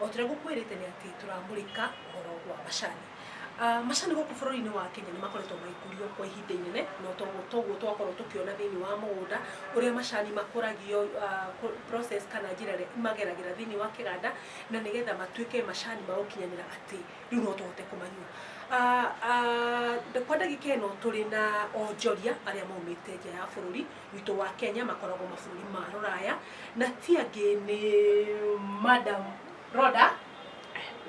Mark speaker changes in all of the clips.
Speaker 1: O tũrĩa gũkwĩrĩte nĩ atĩ tũramũrĩka ũhoro wa macani. Ah, macani gũkũ bũrũri-inĩ wa Kenya nĩ makoretwo magĩkũrio kwa ihinda inene no toguo toguo twakorwo tũkĩona thĩinĩ wa mũgũnda ũrĩa macani makũragio ah, kũ- process kana njĩra ĩrĩa mageragĩra thĩinĩ wa kĩganda na nĩgetha matuĩke macani ma gũkinyanĩra atĩ rĩu no tũhote kũmanyua Ah, ah, kwa ndagĩka ĩno tũrĩ na onjoria arĩa maumĩte nja ya bũrũri witũ wa Kenya makoragwo mabũrũri ma rũraya na ti angĩ nĩ Madam Rhoda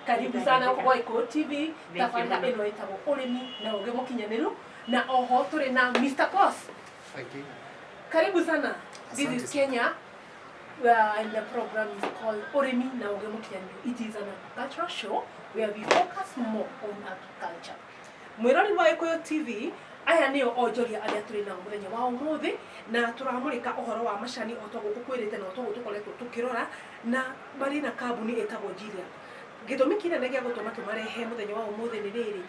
Speaker 1: karibu sana huko kwa Iko TV tabarĩra ĩno ĩtagwo ũrĩmi na ũgĩ mũkinyanĩru na oho tũrĩ na Mr. Boss Thank you. karibu sana this Asante is sana. Kenya uh, and the program is called Oremi na Oge Mukiani. It is an agricultural show where we focus more on agriculture. Mwĩrori wa Gĩkũyũ TV, aya nĩo onjoria arĩa tũrĩ nao mũthenya wa ũmũthĩ, na tũramũrĩka ũhoro wa macani o ta ũguo ngũkwĩrĩte na o ta ũguo tũkoretwo tũkĩrora, na marĩ na kambuni ĩtagwo Gilead. Gĩtũmi kĩnene gĩa gũtũma tũmarehe mũthenya wa ũmũthĩ nĩ rĩrĩ,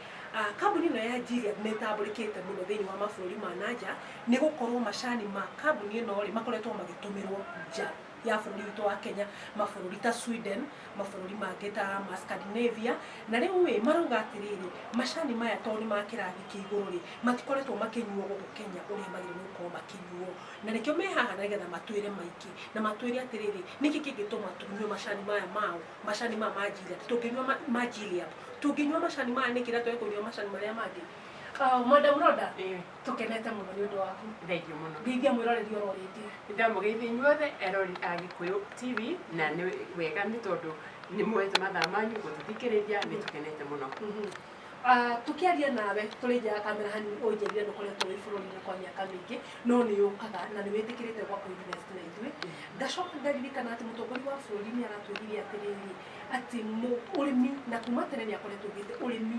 Speaker 1: kambuni ĩno ya Gilead nĩ ĩtambũrĩkĩte mũno thĩinĩ wa mabũrũri ma na nja, nĩ gũkorwo macani ma kambuni ĩno rĩ, makoretwo magĩtũmĩrwo nja. ya bũrũri witũ wa Kenya, mabũrũri ta Sweden, mabũrũri mangĩ ta ma Scandinavia, na rĩu ĩ marauga atĩrĩrĩ, macani maya tondũ nĩ ma kĩrathi kĩa igũrũ rĩ, matikoretwo makĩnyuo gũkũ Kenya ũrĩa magĩrĩirwo nĩ gũkorwo makĩnyuo, na nĩkĩo me haha nĩgetha matwĩre maingĩ, na matwĩre atĩrĩrĩ, nĩkĩ kĩngĩtũma tũnyue macani maya mao, macani maya ma Gilead, tũngĩnyua ma ma Gilead, tũngĩnyua macani maya nĩkĩ na twage kũnyua macani marĩa mangĩ? Madam Rhoda, Tũkenete mũno nĩ ũndũ waku. Thengiũ mũno. Ngeithia mwĩroreri oro rĩngĩ. Nĩ ndamũgeithia inyuothe erori a Gĩkũyũ TV na nĩ wega nĩ tondũ nĩ muoete mathaa manyu gũtũthikĩrĩria nĩ tũkenete mũno. Ah, tũkĩaria nawe tũrĩ nja ya kamera hanini ũnjĩrire ndũkoretwo wĩ bũrũri-inĩ kwa mĩaka mĩingĩ no nĩ ũkaga na nĩ wĩtĩkĩrĩte ũka kũ invest na ithuĩ. Ngacoka ngaririkana atĩ mũtongoria wa bũrũri nĩ aratwĩrire atĩrĩrĩ, atĩ mũ, ũrĩmi na kuma tene nĩ akoretwo augĩte ũrĩmi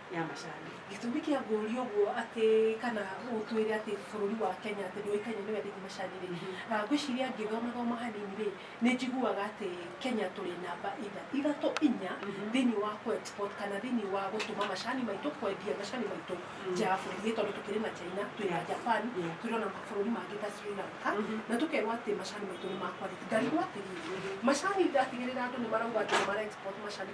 Speaker 1: ya macani. Gĩtũmi kĩa ngũria ũguo atĩ kana ũtwĩre atĩ bũrũri wa Kenya atĩ ndũĩkaine nĩ wendete macani rĩ, ngwĩciria ngĩthoma thoma hanini rĩ, nĩ njiguaga atĩ Kenya tũrĩ namba ithatũ inya thĩinĩ wa kũ export kana thĩinĩ wa gũtũma macani maitũ, kwendia macani maitũ nja ya bũrũri nĩ tondũ tũkĩrĩ na China, twĩ na Japan, twĩ ona mabũrũri mangĩ ta Sri Lanka, na tũkerwo atĩ macani maitũ nĩ ma quality. Ngarigwo atĩrĩrĩ, macani ndatigĩrĩra andũ nĩ marauga atĩ nĩ mara export macani...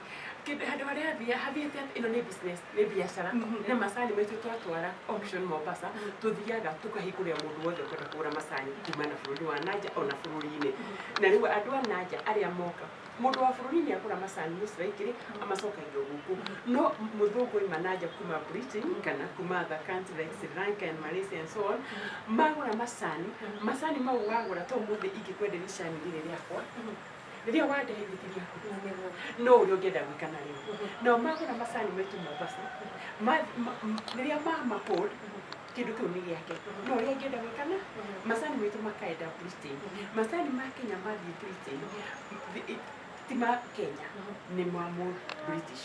Speaker 1: kĩndũ handũ harĩa athiaga hathiĩte atĩ ĩno nĩ business nĩ biacara Mhm. nĩ macani maitũ twatwara auction Mombasa tũthiaga tũkahingũrĩra mũndũ wothe ũkwenda kũgũra macani kuma na bũrũri wa nanja ona bũrũri-inĩ na rĩu andũ a nanja arĩa moka mũndũ wa bũrũri nĩ agũra macani mũciraikĩrĩ amacokagia o gũkũ no mũthũngũ oima nanja kuma Britain kana kuma other country like Sri Lanka and Malaysia and so on magũra macani macani mau wagũra ta ũmũthĩ ingĩkwenderia icani rĩrĩ rĩakwa rĩrĩa wandeithĩtirie ngĩthĩnĩrwo no ũrĩa ũngĩenda gwĩka na rĩo nao magũra macani maitũ mombasa ma- ma- m- rĩrĩa mama hold kĩndũ kĩu nĩ gĩake no ũrĩa angĩenda gwĩka na macani maitũ makaenda britain macani ma kenya mathiĩ britain Thi- ti ma kenya nĩ ma mũ british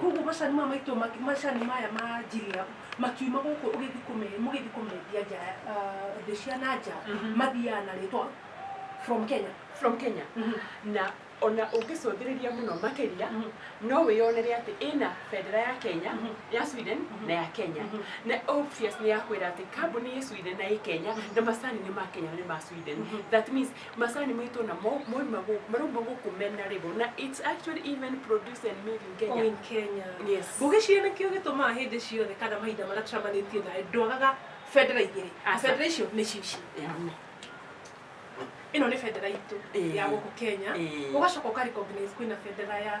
Speaker 1: koguo macani maya maitũ ma- macani maya ma njiria makiuma gũkũ ũgĩthi kũme- mũgĩthi kũmendia nja ya- ah, thĩ cia na nja Mhm. mathiaga na rĩtwa from kenya from kenya na ona ũngĩcũthĩrĩria mũno makĩria Mhm. no wĩyonere atĩ ĩna bendera ya kenya Mhm. ya sweden Mhm. na ya kenya Mhm. na obvious nĩ yakwĩra atĩ kambuni ĩ sweden na ĩ kenya na macani nĩ ma kenya na nĩ ma sweden Mhm. that means Macani maitũ na mo mauma gũkũ marauma gũkũ mena label na it's actually even produced and made in Kenya. Oh, in Kenya. Yes. Ngũgĩciria nĩkĩo gĩtũmaga hĩndĩ ciothe kana mahinda marĩa tũcamanĩtie nawe ndwagaga bendera igĩrĩ. Aca. Bendera icio nĩ cici. Yaani, Ĩno nĩ bendera itũ Eh. ya gũkũ Kenya. Eh. Ũgacoka ũka recognize kwĩna bendera ya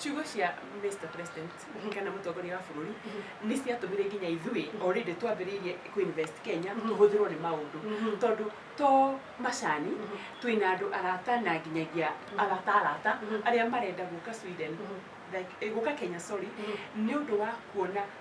Speaker 1: ciugo cia Mr President kana mũtongoria wa bũrũri nĩ ciatũmire nginya ithuĩ already twambĩrĩirie kuinvest Kenya tũhũthĩrwo nĩ maũndũ tondũ to macani twĩna andũ arata na nginyagia arata arata arĩa marenda gũka Sweden like, eh, gũka Kenya sorry nĩ ũndũ wa kuona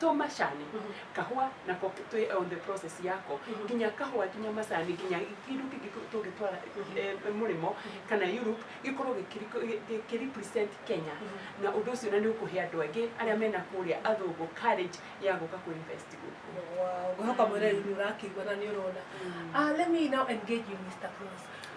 Speaker 1: to macani kahũa nako k- twĩ on the process yako nginya kahũa nginya macani nginya kĩndũ kĩngĩ tũ- tũngĩtwara eh, mũrĩmo kana Europe gĩkorwo gĩkĩri- gĩ- gĩ- kĩ represent Kenya na ũndũ ũcio na nĩ ũkũhe andũ angĩ arĩa mena kũrĩa athũngũ courage ya gũka kũ invest gũkũ Wow, ngwĩhoka mwĩreri nĩ ũrakĩigua na nĩ ũrona. Ah, let me now engage you, Mr. Cruz.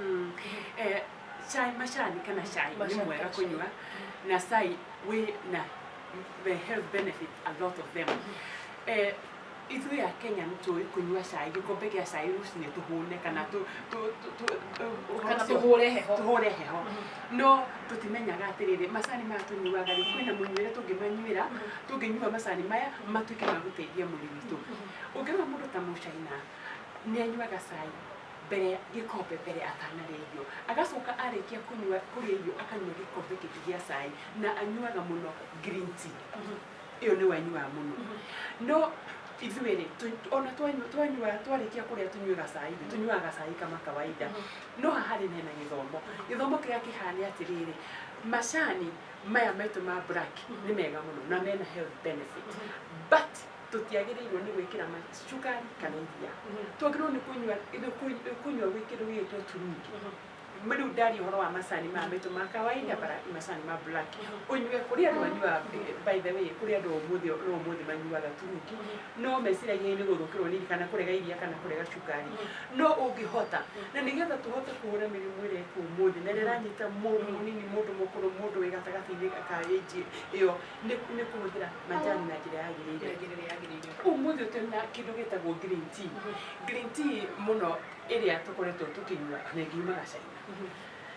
Speaker 1: Mm. Eh, chai mashani kana chai ni Mashani mwega kana chai. kunywa na sai we na the health benefit a lot of them eh, ithu ya kenya nitui kunywa cai gikombe gia cai rucini tuhune kana tu- tu- tu- tu- tu- kana ũhoro ũcio- tũhũre heho tũhũre heho no tũtimenyaga atĩrĩrĩ macani maya tũnyuaga rĩ kwĩna mũnyuĩre tũngĩmanyuĩra tũngĩnyua macani maya matuĩke ma gũteithia mwĩrĩ witũ ũngĩrora mũndũ ta mũcaina nĩ anyuaga cai mbere ya gĩkombe mbere atanarĩa irio agacoka arĩkia kũnyua kũrĩa irio akanyua gĩkombe kĩngĩ gĩa cai na anyuaga mũno green tea mhm. ĩyo nĩ wanyuaga mũno mhm. no ithuĩ rĩ ona twanyua twanyua twarĩkia kũrĩa tũnyuaga cai rĩ tũnyuaga cai kama kawaida mhm. no haha rĩ hena gĩthomo gĩthomo kĩrĩa kĩhana atĩrĩrĩ macani maya maitũ ma black nĩ mega mũno na mena health benefit but tũtiagĩrĩirwo nĩ gwĩkĩra maguta cukari kana iria twagĩrĩirwo nĩ kũnyua nĩ kũ- kũnyua gwĩ kĩndũ gĩgĩtwo turungi rĩu ndari ũhoro wa macani maya maitũ ma kawaida bara macani ma black ũnyue kũrĩ andũ manyuaga eh, by the way kũrĩ andũ ũmũthĩ na ũmũthĩ manyuaga turungi no meciragia nĩ gũthũkĩrwo nini kana kũrega iria kana kũrega cukari no ũngĩhota na nĩgetha tũhote kũhũra mĩrimũ ĩrĩa ĩkuo ũmũthĩ na ĩrĩa ĩranyita mũndũ mũnini mũndũ mũkũrũ mũndũ wĩ gatagatĩ-inĩ ka age ĩyo nĩ nĩ kũhũthĩra majani na njĩra yagĩrĩire Njĩra ĩrĩa yagĩrĩire. umuthi å tena kä ndå gä tagwo green tea. Green tea må no ä rä a tå koretwo tå kä nyua na ngiumaga caina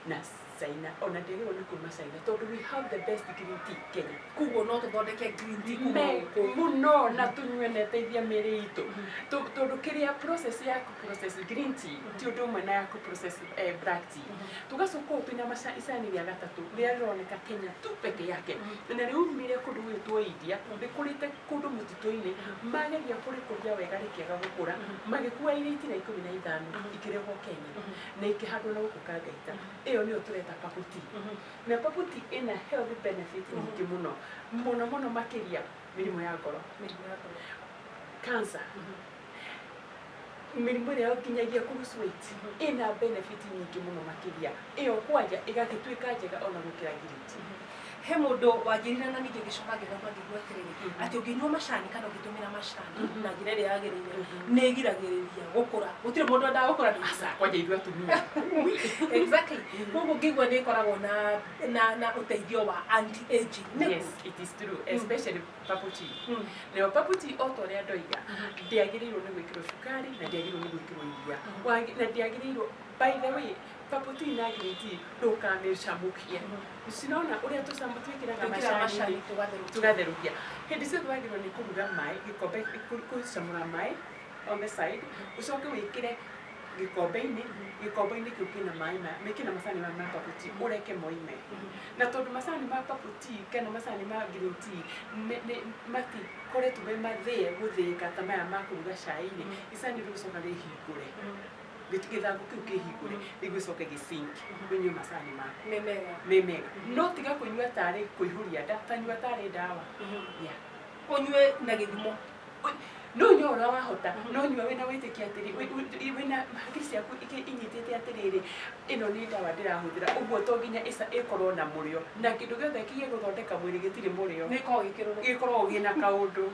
Speaker 1: na caina ona ndä agä rwo nä kuma caina tondå we have the best green tea kenya Koguo no tũthondeke green tea kuma Me- gũkũ. må no na tå nyue na ĩteithia mä rä itå tondå kä rä a process ya process green tea ti ũndũ ũmwe na ya kũ process eh, black tea tugacoka ũũ twĩna maca- icani rĩa gatatũ rĩrĩa rĩroneka kenya tu peke yake na rĩumire kũndũ gwĩtwo india rĩkũrĩte kũndũ mũtitũ-inĩ mageria kũrĩkũria wega rĩkĩaga gũkũra magĩkua iria itira ikũmi na ithano ikĩrehwo kenya na ikĩhandwo na gũkũ kangaita ĩyo nĩyo tũreta paputi na paputi ĩna health benefit nyingĩ mũno mũno mũno makĩria mĩrimũ ya ngoro cancer mĩrimũ ĩrĩa yo nginyagia kurucu weight ĩna benefit nyingĩ mũno makĩria ĩyo kwanja ĩgagĩtuĩka njega ona gũkĩra ngiriti he mũndũ wanjĩrire na ningĩ gĩcoka ngĩthoma ngĩigua atĩrĩrĩ atĩ ũngĩnyua macani kana ũngĩtũmĩra macani na njĩra ĩrĩa yagĩrĩire nĩ ĩgiragĩrĩria gũkũra gũtirĩ mũndũ endaga gũkũra nĩ aca kwanja ithuĩ atumia exactly koguo ngĩigua nĩ ĩkoragwo na na na ũteithio wa anti aging nĩ yes it is true especially Paputi. Mm. Nayo paputi o ta ũrĩa ndoiga mm-hmm. ndĩagĩrĩirwo nĩ gwĩkĩrwo cukari na ndĩagĩrĩirwo nĩ gwĩkĩrwo iria mm-hmm. na ndĩagĩrĩirwo by the way paputi na ngiriti ndũkamĩcamũkie mm-hmm. cinona ũrĩa tũcamũ twĩkĩraga macani tũgatherũkia hĩndĩ ciothe wagĩrĩirwo nĩ kũruga maĩ gĩkombe kũcamũra maĩ on the side ũcoke wĩkĩre gĩkombe-inĩ gĩkombe-inĩ kĩu kĩna maĩ mekĩna macani ma mababuti ũreke moime Na tondũ macani ma purple tea kana macani ma green tea nĩ- nĩ- matikoretwo me mathĩe gũthĩĩka ta maya ma kũruga cai-inĩ, icani rĩgũcoka rĩhingũre, gĩt- gĩthangũ kĩu kĩhingũre, rĩu gĩcoke gĩ sink ũnyue macani maku me mega. me mega. No tiga kũnyua tarĩ kũihũria nda, ta nyua tarĩ ndawa. Yeah. Ũnyue na gĩthimo. no nyua ũrĩa wahota no nyua wĩna wĩtĩkia atĩrĩ wĩ- wĩ- wĩna hakiri ciaku ikĩ- inyitĩte atĩrĩrĩ ĩno nĩ ndawa ndĩrahũthĩra ũguo to nginya ĩca- ĩkorwo na mũrĩo na kĩndũ gĩothe kĩgĩ gũthondeka mwĩrĩ gĩtirĩ mũrĩo nä korwo gä kä rå gĩkoragwo gĩna kaũndå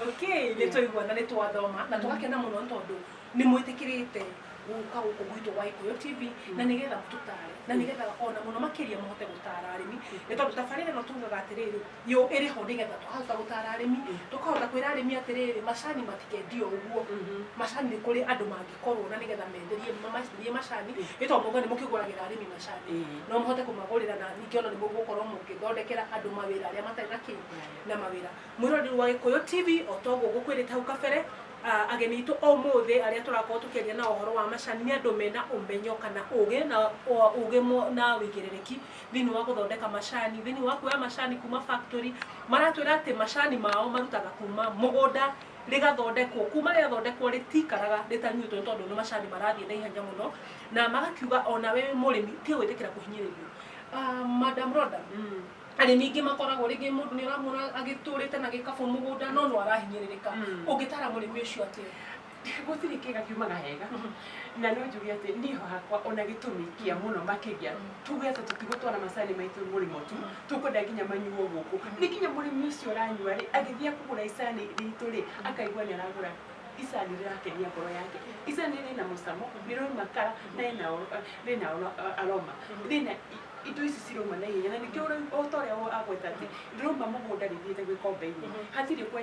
Speaker 1: okay nä twaigua na nä twathoma na tå gakena må no tondå nĩ mwĩtĩkĩrĩte gũka gũkũ gwitũ wa Ikuyu TV na nĩ getha mũtũtare na nĩ getha ona mũno makĩria mũhote gũtara arĩmi nĩ tondũ tabarĩra ĩno tugaga atĩrĩrĩ yo ĩrĩ ho nĩ getha twahota gũtara arĩmi tũkahota kwĩra arĩmi atĩrĩrĩ macani matikendio ũguo macani nĩ kũrĩ andũ mangĩkorwo na nĩ getha menderie mamenderie macani nĩ tondũ mauga nĩ mũkĩgũragĩra arĩmi macani no mũhote kũmagũrĩra na ningĩ ona nĩ mũgũkorwo mũgĩthondekera andũ mawĩra arĩa matarĩ na kĩ na mawĩra mwĩroreri wa Gĩkũyũ TV o ta ũguo ngũkwĩrĩte hau kabere Ah, ageni itũ ũmũthĩ arĩa tũrakorwo tũkĩaria na ũhoro wa macani nĩ andũ mena ũmenyo kana ũgĩ na o- ũgĩ mo- na wĩigĩrĩrĩki thĩinĩ wa gũthondeka macani thĩinĩ wa kuoya macani kuma factory maratwĩra atĩ macani mao marutaga kuma mũgũnda rĩgathondekwo kuma rĩathondekwo rĩtikaraga rĩtanyuĩtwo nĩ tondũ nĩ macani marathiĩ na ihenya mũno na magakiuga ona we wĩ mũrĩmi tiga gwĩtĩkĩra kũhinyĩrĩrio Ah, madam Rhoda, arĩmi aingĩ makoragwo rĩngĩ mũndũ nĩ ũramwona agĩtũrĩte na gĩkabũ mũgũnda no no arahinyĩrĩrĩka Mm. ũngĩtara mũrĩmi ũcio atĩa gũtirĩ kĩga kiumaga hega na no njuge atĩ niĩ hakwa ona gĩtũmi kĩa mũno makĩria Mm. tuge atĩ tũtigũtwara macani maitũ mũrĩmo tu Mm. tũkwenda nginya manyuo gũkũ nĩ nginya mũrĩmi ũcio ũranyua rĩ agĩthiĩ kũgũra icani ritũ rĩ akaigua nĩ aragũra icani rĩrakenia ngoro yake icani rĩna mũcamo nĩ rĩrauma kara na rĩna oro- rĩna oro- aroma rĩna indo ici cirauma na ihenya na ningĩ ũrĩa o ta ũrĩa wo- agweta atĩ ndĩrauma mũgũnda rĩthiĩte gwĩkomba-inĩ hatirĩ kwa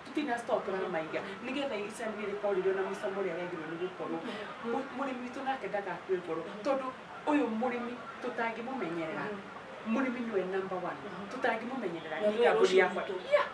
Speaker 1: tũtina store tũramaiga nĩgetha icani rĩrĩ korwo rĩrĩ ona mũcamo ũrĩa rĩagĩrĩirwo nĩ gũkorwo Mũ- mũrĩmi witũ nake ndagakue ngoro tondũ ũyũ mũrĩmi tũtangĩmũmenyerera mũrĩmi nĩwe number one tũtangĩmũmenyerera Na nĩ nĩwe kambuni ũcũrũ yakwa witũ. Yeah.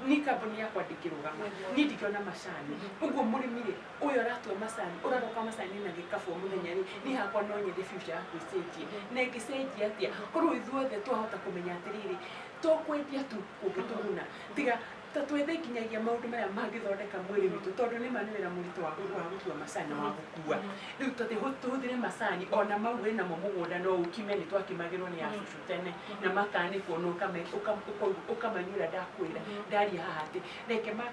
Speaker 1: nĩ kambuni yakwa ndĩngĩrũgama niĩ ndingĩona macani ũguo mũrĩmi rĩ ũyũ aratua macani ũraroka macani na gĩkabũ mũthenya rĩ niĩ hakwa no nyende future yakwa ĩcenjie na ĩngĩcenjia atĩa korwo ithuothe twahota kũmenya atĩrĩrĩ to kwendia tu kũngĩtũguna tiga ta twethe nginyagia maũndũ marĩa mangĩthondeka mwĩrĩ witũ tondũ nĩ ma nĩ wĩra mũritũ wa gũ- wa gũtua macani na wa gũkua rĩu tũthiĩ hũ- tũhũthĩre macani ona mau wĩ namo mũgũnda no ũkime nĩ twakimagĩrwo nĩ acucu tene na makanĩkwo na ũkame- ũka- ũka- ũkamanyua ũrĩa ndakwĩra ndaria haha atĩ reke ma-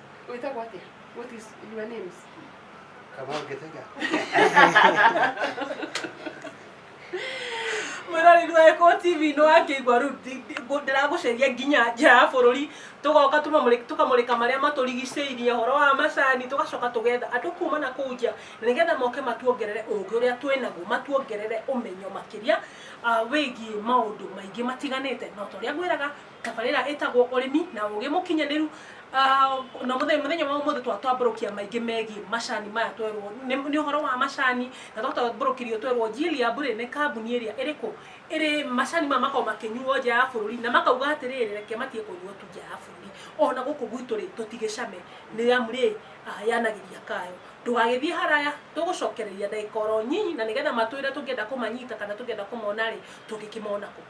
Speaker 1: wĩtagwo atĩa what is your names Kamau Gĩthaiga. mwĩrori gwekwo tv nĩ wakĩigua rĩu ndi- ndi- ngũ- ndĩragũceria nginya nja ya bũrũri tũgoka tũmamũrĩ- tũkamũrĩka marĩa matũrigicĩirie ũhoro wa macani tũgacoka tũgetha andũ kuma na kũu nja na nĩgetha moke matuongerere ũũgĩ ũrĩa twĩnaguo matuongerere ũmenyo makĩria ah, wĩgiĩ maũndũ maingĩ matiganĩte no ta ũrĩa ngwĩraga Tabarĩra ĩtagwo ũrĩmi na ũgĩ mũkinyanĩru na mũthenya wa ũmũthĩ twatwambũrũkia maingĩ megiĩ macani maya twerwo nĩ ũhoro wa macani na twatambũrũkirio twerwo Gileab rĩ nĩ kambuni ĩrĩa ĩrĩkũ ĩrĩ macani maya makoragwo makĩnyuo nja ya bũrũri na makauga atĩrĩrĩ reke matige kũnyuo tu nja ya bũrũri ona gũkũ gwitũ rĩ tũtigĩcame nĩ amu rĩ yanagĩria kayo ndũgagĩthiĩ haraya tũgũcokereria ndagĩka oro nyinyi na nĩgetha matwĩre tũngĩenda kũmanyita kana tũngĩenda kũmona rĩ tũngĩkĩmona kũ.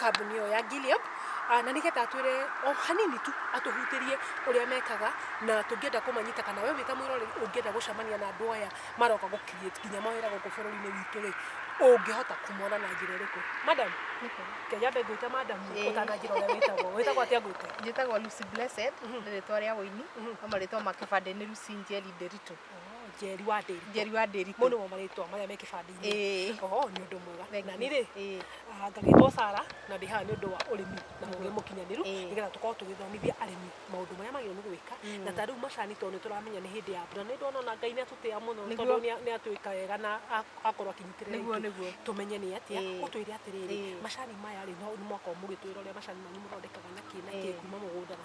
Speaker 1: kambuni ĩyo ya Gilead na nĩgetha atwĩre o hanini tu atũhutĩrie ũrĩa mekaga na tũngĩenda kũmanyita kana we wĩta mwĩroreri ũngĩenda gũcemania na andũ aya maroka gũ create nginya mawĩra gũkũ bũrũri-inĩ witũ rĩ ũngĩhota kumona na njĩra ĩrĩkũ madam ke nyambe ngwĩte madam Ĩĩ. ũtananjĩra ũrĩa wĩtagwo wĩtagwo atĩa ngwĩte njĩtagwo Lucy Blessed nĩ rĩtwa rĩa ũini no marĩtwa ma kĩbandĩ nĩ Lucy Njeri Nderitu Oh, njeri wa ndĩri njeri wa ndĩri mũnĩ wa marĩtwa marĩa me kĩbandĩ-inĩ ĩĩ oho nĩ ũndũ mwega Thank na you. nirĩ ĩĩ ah, ngagĩtwo sara na ndĩ haha nĩ ũndũ wa ũrĩmi na ũgĩ mũkinyanĩru Ĩĩ. nĩgetha tũkorwo tũgĩthomithia arĩmi maũndũ marĩa magĩrĩirwo nĩ gwĩka Mm. na ta rĩu macani tondũ nĩ tũramenya nĩ hĩndĩ ya mbura nĩ ndona ona ngai nĩ atũtĩa mũno Nĩguo. tondũ nĩ a- nĩ atwĩka wega na a- akorwo akinyitĩrĩra nĩguo itũ. nĩguo tũmenye nĩ atĩa Ĩĩ. ũtwĩre atĩrĩrĩ Ĩĩ. macani maya rĩ no nĩ mwaka ũmũgĩtwĩra ũrĩa macani manyu mũthondekaga na kĩ na kĩ Ĩĩ. kuma mũgũnda na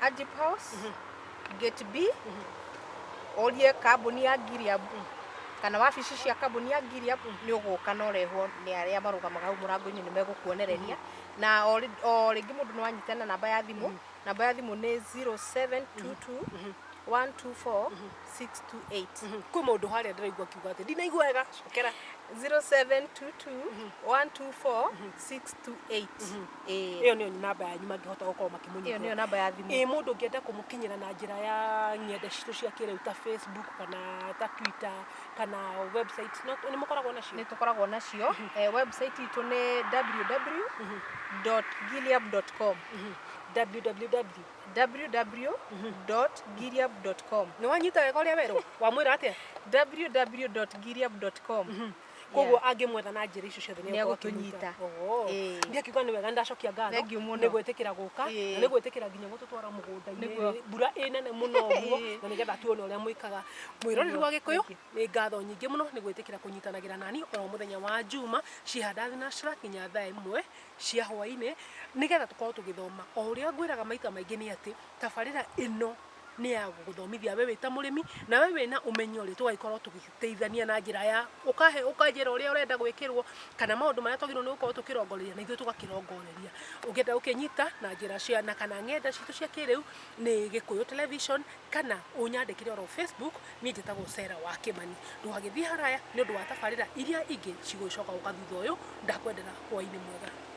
Speaker 1: Ajip House, Gate B, ũrie kambuni ya Gilead kana wabici cia kambuni ya Gilead nĩ ũgũka na ũrehwo nĩ arĩa marũgamaga hau mũrango-inĩ nĩ megũkuonereria na o rĩ- o rĩngĩ mũndũ no anyite na namba ya thimũ namba ya thimũ nĩ 0722 124 628 kwĩ mũndũ harĩa ndĩraigua kiuga atĩ ndinaigua wega cokera 0722 124 628 Ĩĩ. ĩyo nĩyo namba yanyu mangĩhota gũkorwo makĩmũnyita Ĩyo nĩyo namba ya thimũ. ĩĩ mũndũ ũngĩenda kũmũkinyĩra na njĩra ya ng'enda citũ cia kĩrĩu ta facebook kana ta twitter kana website no nĩ mũkoragwo nacio nä tå koragwo nacio Eh, website itå nä www gileab com www www gileab com nĩ wanyita wega ũrĩa werwo wamwĩra atĩa www gileab com koguo angĩmwetha na njĩra icio ciothe Nĩegũtũnyita. Ĩĩ. ndiĩ akiuga nĩ wega ndacokia ngatho Thengiũ mũno. nĩ gwĩtĩkĩra gũka Ĩĩ. na nĩ gwĩtĩkĩra nginya gũtũtwara mũgũnda-inĩ Nĩguo. rĩ, mbura ĩ nene mũno ũguo Ĩĩ. na nĩgetha tuone ũrĩa mwĩkaga mwĩroreri Nĩguo. wa gĩkũyũ Thank you. nĩ ngatho nyingĩ mũno nĩ gwĩtĩkĩra kũnyitanagĩra nani oro mũthenya wa njuma cihanda thinacra nginya thaa ĩmwe cia hwaĩ-inĩ nĩgetha tũkorwo tũgĩthoma o ũrĩa ngwĩraga maita maingĩ nĩ atĩ tabarĩra ĩno nĩ ya gũgũthomithia we wĩta mũrĩmi na we wĩna ũmenyo rĩ tũgagĩkorwo tũgĩteithania na njĩra ya ũkahe ũkanjĩra ũrĩa ũrenda gwĩkĩrwo kana maũndũ marĩa twagĩrĩirwo nĩ gũkorwo tũkĩrongoreria na ithuĩ tũgakĩrongoreria ũngĩenda gũkĩnyita na njĩra cia na kana ng'enda citũ cia kĩrĩu nĩ gĩkũyũ television kana ũnyandĩkĩre oro facebook niĩ njĩtagwo Sarah wa Kĩmani ndũgagĩthiĩ haraya nĩ ũndũ wa tabarĩra iria ingĩ cigũgĩcoka gũka thutha ũyũ ndakwendera hwainĩ mwega